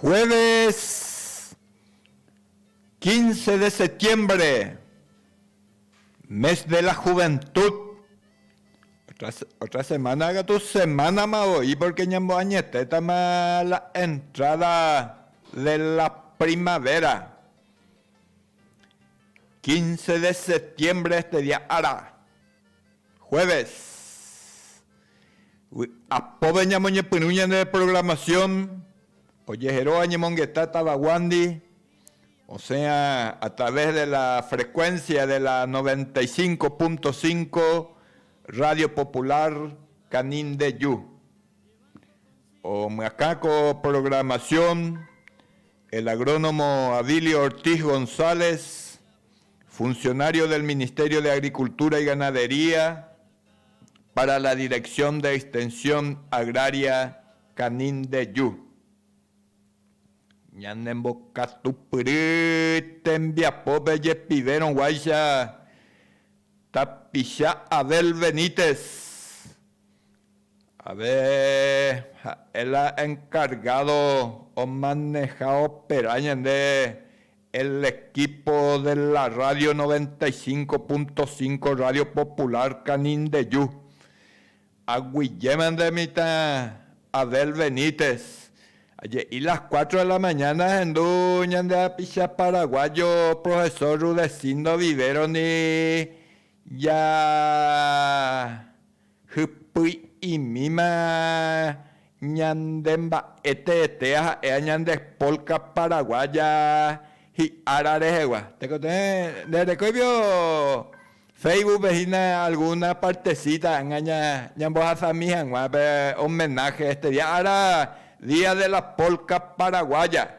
Jueves 15 de septiembre, mes de la juventud. Otra, otra semana katu semánama voi porque ñamboañetétama la entrada de la primavera. 15 de septiembre este dia ára. Jueves. Vy'apópe ñamoñepyrũ ñane reprogramasión ojeheróva ñemongeta tavaguándi, osẽa a través de la frecuencia de la noventa y cinco punto cinco Radio Popular Canindeju. Omyakã ko programación el agrónomo Avilio Ortiz González. Funcionario del Ministerio de Agricultura y Ganadería para la Dirección de Extensión Agraria Canindeyú, Ñanembokatupyry tembiapópe jepivérõ guáicha tapicha Abel Benítez Ave ha'e la encargado omaneha opera ñande el equipo de la radio noventa y cinco punto cinco radio popular Canindeyu. Aguyjéma nde mitã Abel Benítez, aje'i las cuatro de la mañana ahendu ñande hapicha paraguayo profesor Rudecindo Vivero-ndi ja Hypy'imíma ñande mba'e teete aha'éa ñande polka paraguaya hi'ára rehegua. Tekotevẽ, nde rekóivio Facebookpe hína alguna partecita agaña ñambohasami hag̃ua pe homenaje, este día ára Día de la Polka Paraguaya.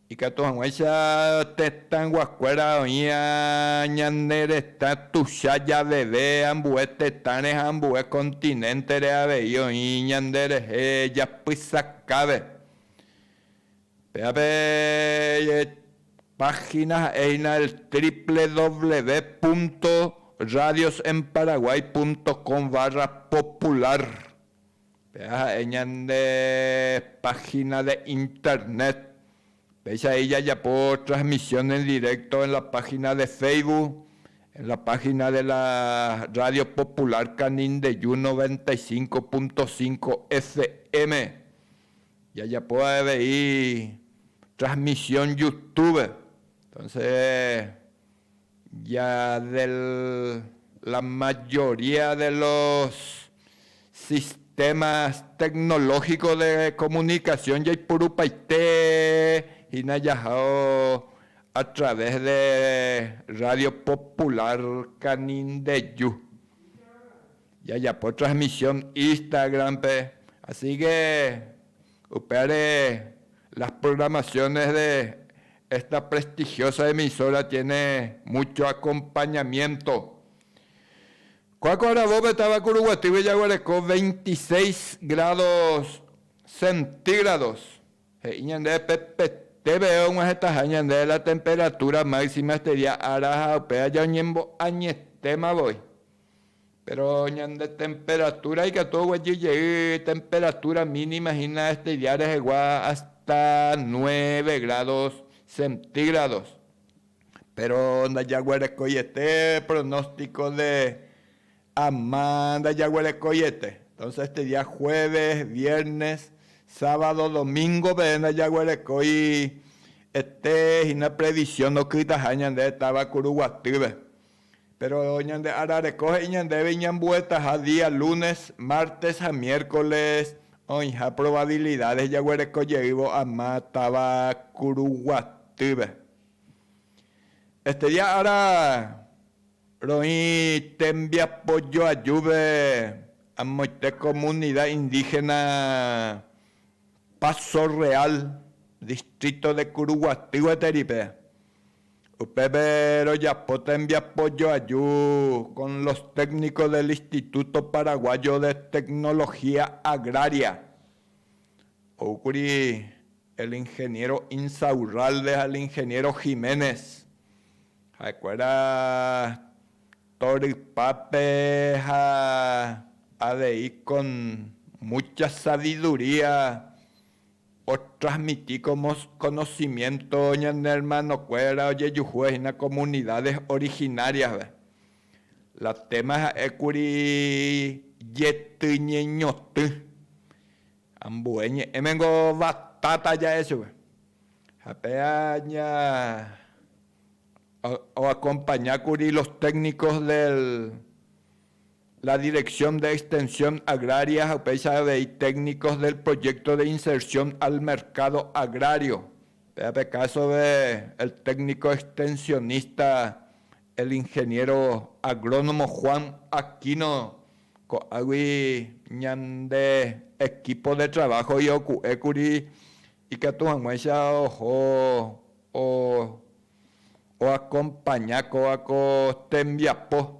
Ikatu hag̃uáicha tetãyguakuéra oĩ ñane retã tuicha javeve, ambue tetãre ha ambue kontinéntere avei oĩ ñanderehe japysakáve. Pévape páhina ha'éhina el triple dobleve púnto radios en Paraguay púnto com barra popular Péva ha'e ñande página de Internet. Péicha he'i jajapo transmisión en directo en la página de Facebook, en la página de la Radio Popular Canindeyú noventa y cinco punto cinco FM. Jajapo avei transmisión Youtube. Entonces. ya de la mayoría de los sistemas tecnológicos de comunicación jaipurupaite hína jahao a través de Radio Popular Canindeju, jajapo transmisión Instagram-pe, así que Upévare, las programaciones de esta prestigiosa emisora tiene mucho acompañamiento. Kuáko aravópe távaku ruguatýgui jaguereko veintiséis grados centígrados, he'i ñandéve pe peteve og̃uahẽtaha ñandéve la temperatura máxima este día ára ha upéva jaoñembo'añetéma voi. Péro ñande temperatúra ikatu oguejy jey temperatúra mínima hína este dia rehegua ásta nueve grádos centígrados. Péro ndajaguerekoiete pronóstiko de ama ndajaguerekoiete. Entónse este dia jueves, viernes, sábado, domíngove ndajaguerekói ete hína previsión ndokytaha ñande táva Kuruguatýpe. Péro ñande ára reko he'i ñandéve iñambuetaha día lúnes, mártes ha miérkoles oĩha provabilidádes jaguereko jeývo ama táva kuruguatýpe. Este día ára roĩ tembiapo joajúpe amoite komunida indígena Paso Real, distrito de Kuruguaty gueteri pe. Upépe rojapo tembiapo joaju con los técnicos del Instituto Paraguayo de Tecnología Agraria. Oúkuri el ingeniero Insaurralde ha el ingeniero Jiménez. Ha'ekuéra torypápe ha avei con mucha sabiduría. Otransmiti ko mokonosiménto ñane ermanokuéra ojejuhúva hína komunidádes orihináriaspe. La téma ha'e kuri Jety ñeñotỹ. Ambue ñe'ẽme niko vatáta ja'e chupe. Ha péa ña oakompaña kuri los téknikos del la Dirección de Extensión Agraria ha upéicha avei técnicos del Proyecto de Inserción al Mercado Agrario, péva pe kásope el técnico extensionista el Ingeniero Agrónomo Juan Aquino, ko'águi ñande equipo de trabajo ioku'ékuri ikatu hag̃uáicha oho o acompaña kóva ko tembiapo.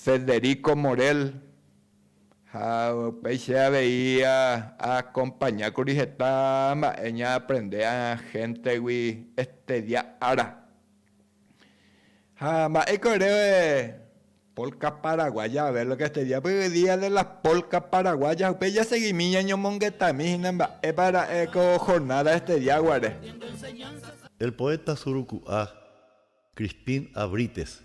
Federico Morel, ha upéi che avei aakompaña kuri heta mba'e ñaaprende ahéntegui estedia ára. Ha mba'éiko ere polka paraguaya Abel oke estedia? Py día de las polka paraguayas upéi jasegimi ñañomongetami hína mba'épa ra'e ko jornada estedia guare. El poeta suruku'a Crispín Abrites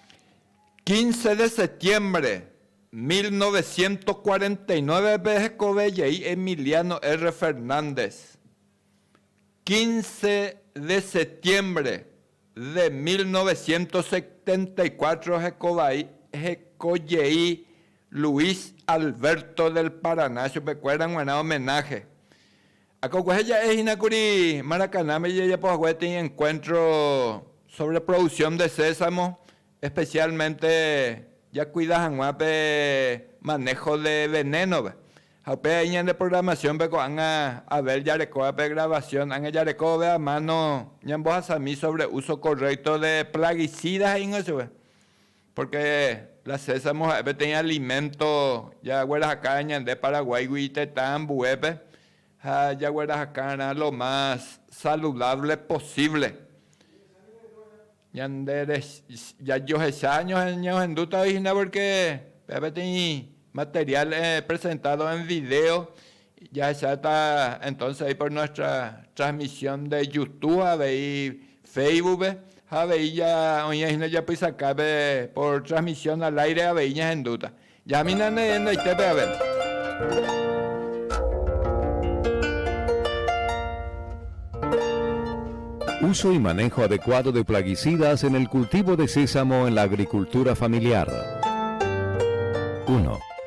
Quince de septiembre, mil novecientos cuarenta y nueve-pe hekove jey Emiliano R. Fernández. Quince de septiembre de mil novecientos setenta y cuatro hekovai heko jey Luis Alberto del Paraná chupekuéra g̃uarã homenaje. Akokuahe ja'e hína kuri Maracaná-pe ijajapo hague peteĩ encuentro sobre producción de sésamo, especialmente jakuida hag̃ua pe manejo de veneno-pe. Ha upéi avei ñande programación-pe ko'ág̃a Abel jarekóva pe grabación, ág̃a jareko ove a mano ñambohasami sobre uso correcto de plaguicidas he'íngo chupe. Pórke la sésamo ha'e peteĩ aliménto jaguerahaka'arã ñande Paraguáigui itetã ambuépe ha jaguerahaka'arã lo más saludávle posívle. Ñande jajohecha ñañemohendútavai hína pórke peteĩ materiál epresentádo en vidéo Jahecháta entonce ahí por nuestra transmisión de Youtube ha avei Facebook-pe, ha avei ja oĩva hína japysakápe por transmisión al aire avei ñahendúta. Jahamína ne hendaitépe jave. Uso y manejo adecuado de plaguicidas en el cultivo de sésamo en la agricultura familiar. Uno.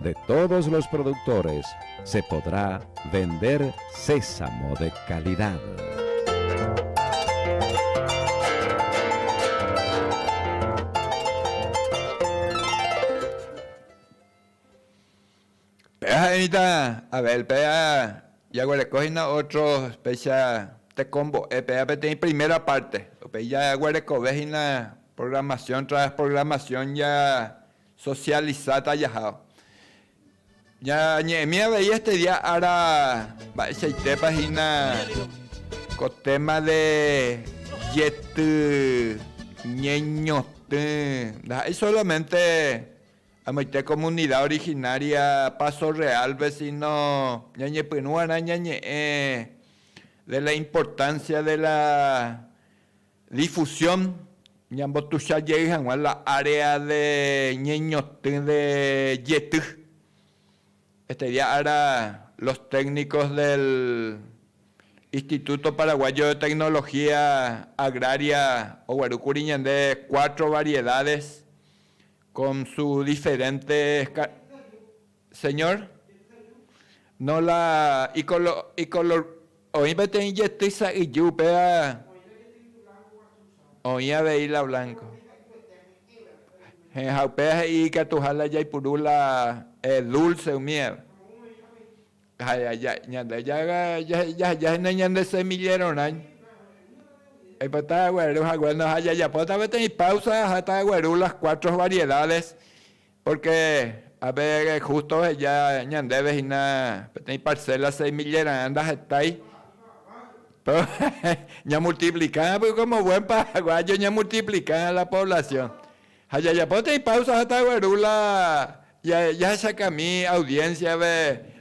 de todos los productores se podrá vender sésamo de calidad. Pe'aje'ỹita Abel péa jaguerekohína ótro upéicha tekombo'e péa peteĩ primera párte, upéi jaguerekovehína programasion tras programasion Sosialisáta jaha. Ñañe'ẽmi avei este día ára mba'eichaitépa hína ko téma de jety ñeñotỹ. Ndaha'éi solamente amoite komunida originária Paso Realpe, síno ñañepyrũ va'erã ñañe'ẽ de la importansia de la Difusión, Ñambotuicha jey hag̃ua la área de ñeñotỹ de jety. Este día ára los técnicos del Instituto Paraguayo de Tecnología Agraria oguerúkuri ñande cuatro variedades con su diferentes Señor, no la ikolo, ikolo, oĩ peteĩ jety sa'yju upéva oĩ avei la blanco. Hẽ, ha upéva he'i ikatuha la jaipuru la eh, dulce umíva. Ha ja, ñande ja, jaheja hína ñande semillero rã, oipota agueru hague, ha jajapóta peteĩ pausa aháta agueru las cuatro variedades Pórke ave hústo oheja ñandéve hína peteĩ parséla seis millera'ã ndahetái. Ñamultiplika ápe kómo buen paraguáyo ñamultiplika la poblasión. Ha jajapo peteĩ páusa ha tagueru la jahechakami audiénsiave.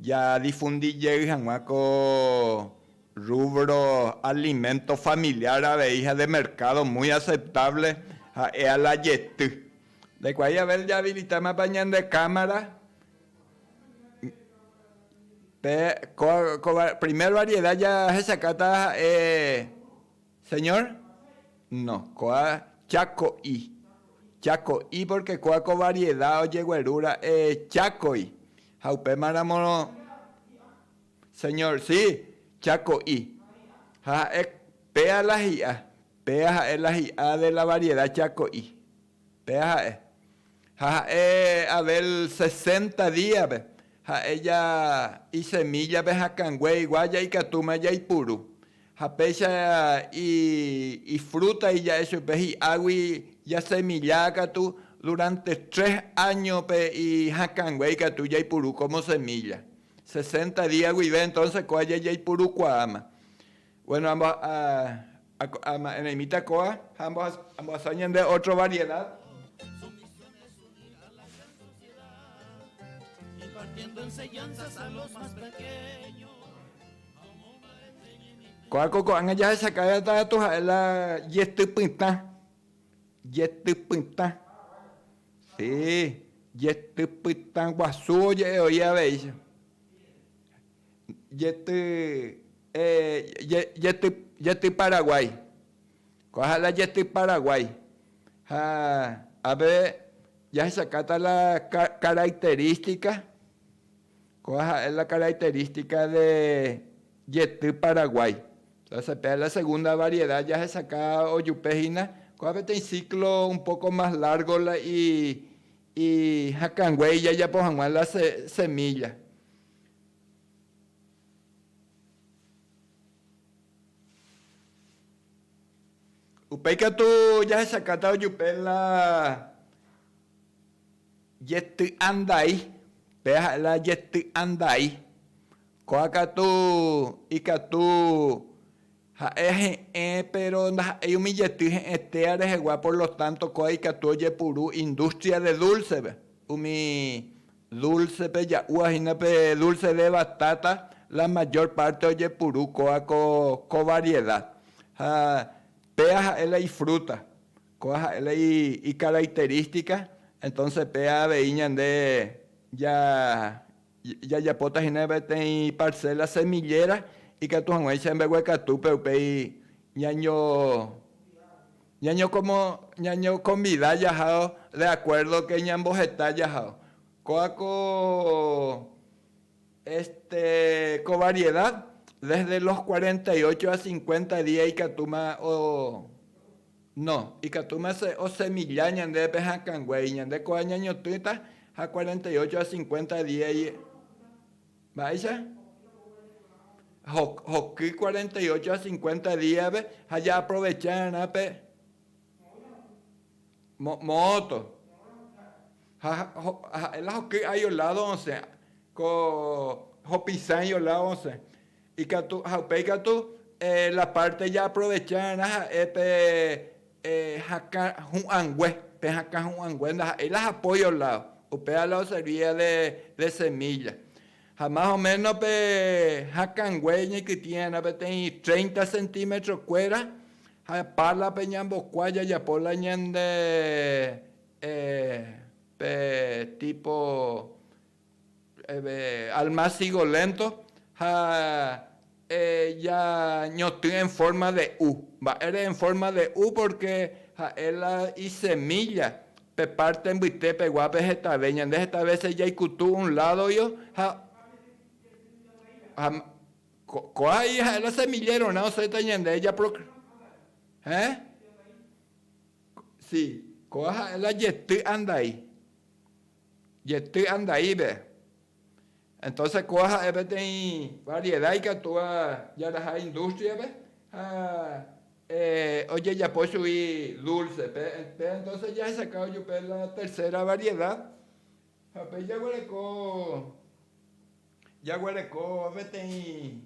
Jadifundi jey hag̃ua ko rrúbro aliménto familiár avei ha de merkádo muy aseptávle ha'e a la jety. Ndaikuaái Abel jaavilitámapa ñande kámara pe ko primer variedad jahechakáta ha'e. Señor, no, kóa cháko'i, cháko'i pórke kóa ko varieda ojegueru ra'e chákoi, ha upémaramo, Señor, si, cháko'i. Ha ha'e péa la hi'a, péa ha'e la hi'a de la varieda cháko'i. Péa ha'e. Ha ha'e Abel sesenta díape ha'e ja isemíllape hakãnguéigua ja ikatúma jaipuru. Ha péicha ifrúta ija'e chupe hi'águi jasemilla katu, duránte tres áñope ihakãngue ikatu jaipuru kómo semílla. Sesenta día guive entónse kóva jajaipurukuaáma. Buéno, ama'ẽreimíta kóva ha ambohasa ñande ótro variedad. Ko'ág̃a ko'ág̃a jahechaka'e atareto ha'e la jetypytã, jetypytã, sii, jetypytã guasu oje'e oĩ aveícha, jety, jety, jety paraguái, ko'ã ha'e la jety paraguái, ha ápe jahechaka'ta la característica. Kóva ha'e la característica de jety Paraguay. Entonces péa la segunda variedad jahesaka ojupe hína, kóva peteĩ ciclo un poco más largo la i i hakãngue ijajapo hag̃ua la se semilla. Upéi katu jahesakáta ojupe la. Jety'andai, péva ha'e la jety'andai. Kóva katu ikatu ha'e he'ẽ péro ndaha'éi umi jety he'ẽ téa rehegua por lo tánto kóva ikatu ojepuru indústria de dúlsepe. Umi dúlsepe ja'úva hína pe dúlse de batáta la mayor párte ojepuru kóva ko variedad. Ha péva ha'e la ifrúta. Kóa ha'e la icaracterística, entonces péa avei ñande jajapóta hína peteĩ parcela semillera ikatu hag̃uáicha mbeguekatúpe upéi ñañokonvida jahao de acuerdo que ñamboheta jahao. Kóa ko este ko variedad desde los cuarenta y ocho a cincuenta día ikatúma o No, ikatúma se osemilla ñandépe hakãnguéi, ñande kóva ñañotỹta ha cuarenta y ocho ha cincuenta día y, mba'éicha? hoky cuarenta y ocho ha cincuenta díape ha jaaprovechárarã pe moõto, ha ha'e la hoky ái oládo osẽ, ko hopisãi oládo osẽ. Ikatu, ha upéi katu la parte jaaprovechárarã ha'e pe hakã hu'ãngue, pe hakã hu'ãngue ndaha'éi la apoyo lado, upéva la oservía de semilla. Ha más o menos pe hakãngue ñaikytĩrarã peteĩ treinta centímetros kuéra, ha pala pe ñambokua jajapo la ñande pe tipo Alma sigo lento ha eñotỹ en forma de u. Mba'ére en forma de u? Porque ha'e la isemilla pe parte mbyte peguápe hetave. Ñande heta vece jaikutu un ládoio ha ko'ã ahí ha'e la semillerorã osẽta ñande japrocrear. Si, ko'ã ha'e la jety andai. jety andaípe. Entonces kóa ha'e peteĩ variedad ikatúva jaraha industria-pe ha ojejapo chugui dulce. Pe entonces jahechakávo chupe la tercera variedad ha pe jaguereko, jaguereko peteĩ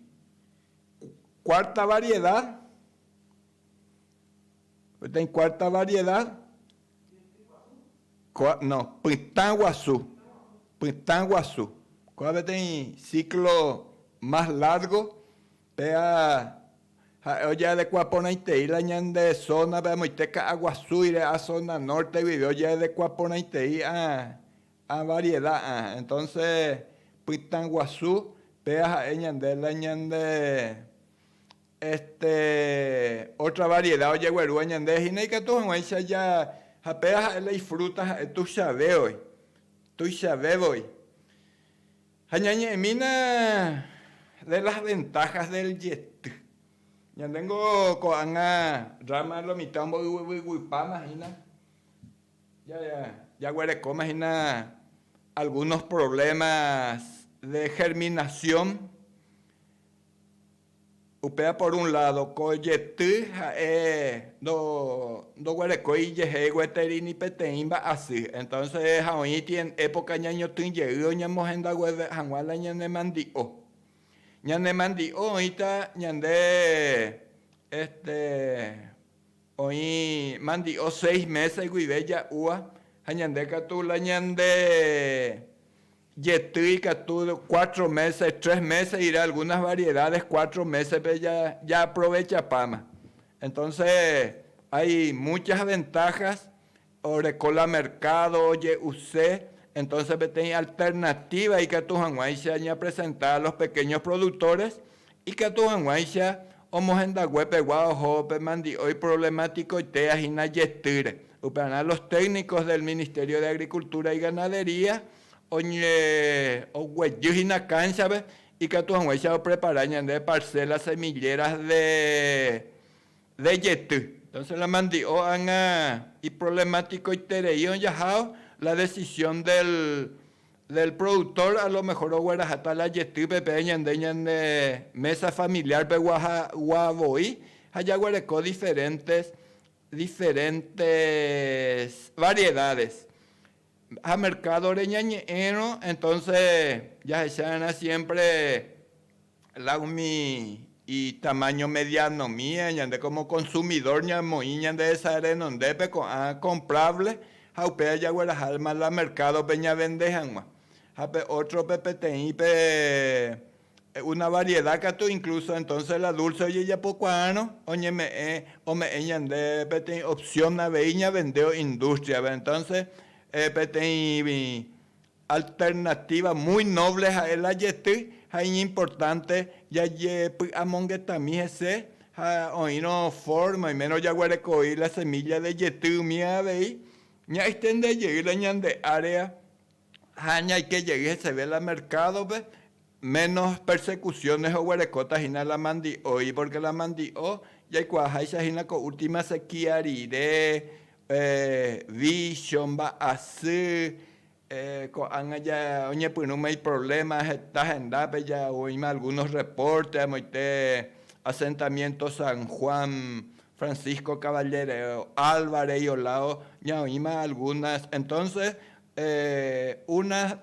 cuarta variedad. Peteĩ kuárta varieda, kua, no, pytã guasu, pytã guasu. Kua peteĩ síklo más lárgo, péva ha'e ojeadekua porãitei la ñande zónape amoite ka'a guasúire, a zona norte guive ojeadekua porãitei a varieda. Entonce pytã guasu, péva ha'e ñande la ñande Este otra variedad ojeguerúva ñande hína ikatu hag̃uáicha ja ha péva ha'e la ifruta ha'e tuichavévoi, tuichavévoi. Ha ñañe'ẽmína de las ventajas del jety. Ñande niko ko'ág̃a rama lo mitã omboyvyguipáma hína ja jaguerekóma hína algunos problemas de germinación Upéva por un lado, ko jety ha'e ndo ndoguerekói ijehe gueteri ni peteĩ mba'asy. Entonces ha oĩ ti en época ñañotỹ jey oñemohenda gueve hag̃ua la ñane mandi'o. Ñane mandi'o oĩta ñande este oĩ mandi'o seis meses guive ja'úa ha ñande katu la ñande Jety ikatu cuatro meses, tres meses irá, algunas variedades cuatro meses-pe ja, jaaprovechapáma. Entonce hay muchas ventajas, oreko la mercado oje'use, entonce peteĩ alternativa ikatu hag̃uáicha ñapresenta a los pequeños productores Ikatu hag̃uáicha omohendague pegua oho pe mandi'o iproblematikoitéa hína jetýre. Upearã los técnicos del Ministerio de Agricultura y Ganadería oguejy hína cancha-pe ikatu hag̃uáicha oprepara ñande parcelas semilleras de de jety. Entonces la mandi'o ág̃a iproblematikoiterei ojahao la decisión del del productor a lo mejor oguerahata la jety peve ñande ñane mesa familiar pegua ha gua voi ha jaguereko diferentes diferentes variedades ha mercado re ñañe'ẽrõ entonces jahecharã siempre La umi itamaño mediáno mía, ñande kómo konsumidór ñamoĩ ñandehesa renondépe ko'ã komprávle ha upéva jagueraha alma la merkádope ñavende hag̃ua. Ha pe ótrope peteĩ pe una variedá katu inklúso entónse la dúlse ojejapokuaárõ oñeme'ẽ ome'ẽ ñande peteĩ opsión avei ñavendévo indústriape. Entónse peteĩ Alternativa muy noble ha'e la jety ha iñimportánte jajepy'amongetami hese ha oĩrõ forma oimérõ jaguerekoi la semílla de jety umi avei ñaextende jey la ñande área ha ñaike jey heseve la merkádope, ménos persecuciones oguerekóta hína la mandi'oi, pórke la mandi'o jaikuaaháicha hína ko última sequía rire, vícho, mba'asy, Ko'ág̃a oñepyrũma iprovléma heta hendápe, oĩma algúnos rrepórte amoite asentamiénto San Juan, Francisco Caballero Álvarez ioládo ñaoĩma algúnas. Entónses una,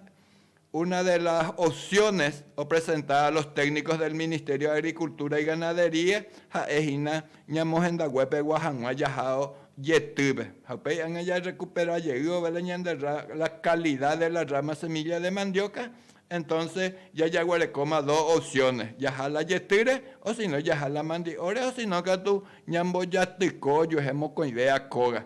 una de las opciones opresentá a los técnicos del Ministerio de Agricultura y Ganadería ha'e hína Ñamohendaguepegua hag̃ua jaha jetýpe, ha upéi ág̃a jarrekupera jey ovela ñande rra, la calidad de la rama semilla de mandioca, entonce ya jaguerekóma dos opciones, jaha la jetýre o si no jaha la mandi'óre o si no katu ñambojatyko ojuehe mokõivéva kóga.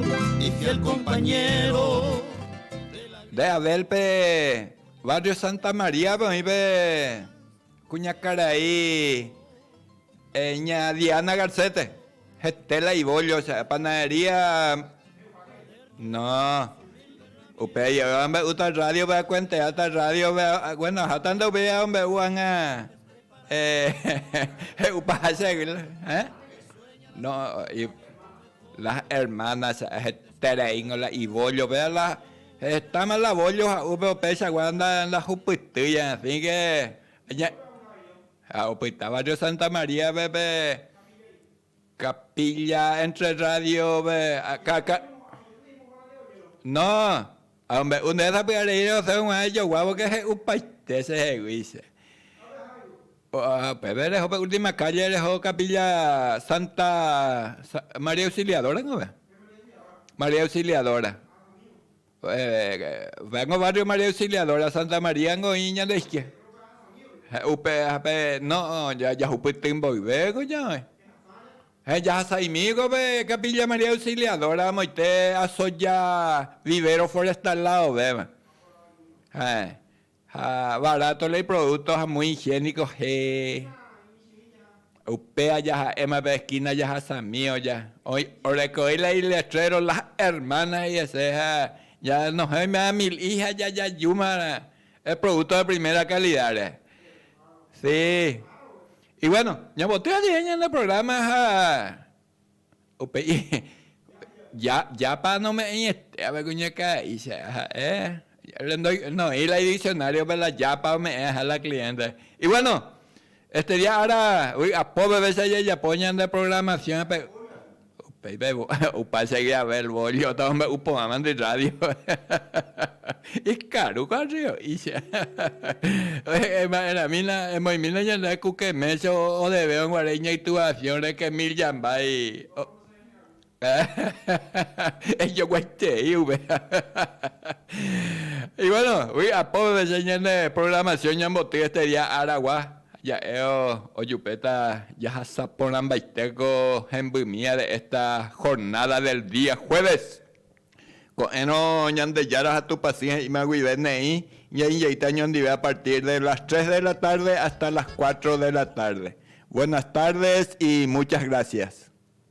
Nde Abel-pe barrio Santa María-pe oĩpe kuñakarai ña Diana Garcés-pe, hete la ibollo cha'e, panadería, no, upe aje'éva ombe'úta rádiope akuenteáta rádiope, bueno, aháta nde upéi amombe'u hag̃ua he'upaha che águila, ẽ? La hermana cha hetereíngo la ivollo pe la hetama la vollo ha upe upéicha gua ndahupytýi en fin que aña ha opyta barrio Santa María pe pe capilla entre radio pe ka ka no Ha ombe'u nde sapy'areíre osẽ g̃uarã ijoguávo que he'upaite che hegui che. Upépe reho pe última calle reho capilla Santa María Auxiliadora kove. María Auxiliadora. Upéva ko barrio María Auxiliadora, Santa María ko oĩ ñande izquierda. Upéva pe no, jahupyty mboyve ko ñaoĩ. Ha'e jahasaimíkove Capilla María Auxiliadora amoite Asoya vivero forestal ladovéva. Ha'e ha barato la iproducto ha muy higiénico he. Upe aja ha'éma pe esquina jahasami oja, oĩ, orekoi la iletrero Las Hermanas jese ha ñanohẽ oiméva mil i ha jajajúma el producto de primera calidad rehe. Sí. Y bueno, ñamoty'a ajehe ñande programa ha upe i ya, yapa nome'ẽiete va'ekue ñakãra'i che ha'e, rendoi, noĩ la idiccionario-pe la yapa ome'ẽha la cliente. Y bueno, este día ára vy'apópe vece jajapo ñande programación-pe. Upéipe opa chegui Abel Bollota omombe'u porãvandi rrádio. Ikarúko arrio'ícha. Ema'ẽramína, emoĩmína ñande ku Keméncho odevéva guare iñaituvasiõ reke mil jambái. Ejoguaitei upe. Y bueno, ui apópe vece ñande programación ñambotỹ este día aragua. Ha ja'éo ojupéta jahasa porãmbaite ko hembymi de esta jornada del día jueves. Ko'ẽrõ Ñandejára ha Tupãsy he'íma guive neĩ ñainjeýta ñondive a partir de las tres de la tarde hasta las cuatro de la tarde. Buenas tardes y muchas gracias.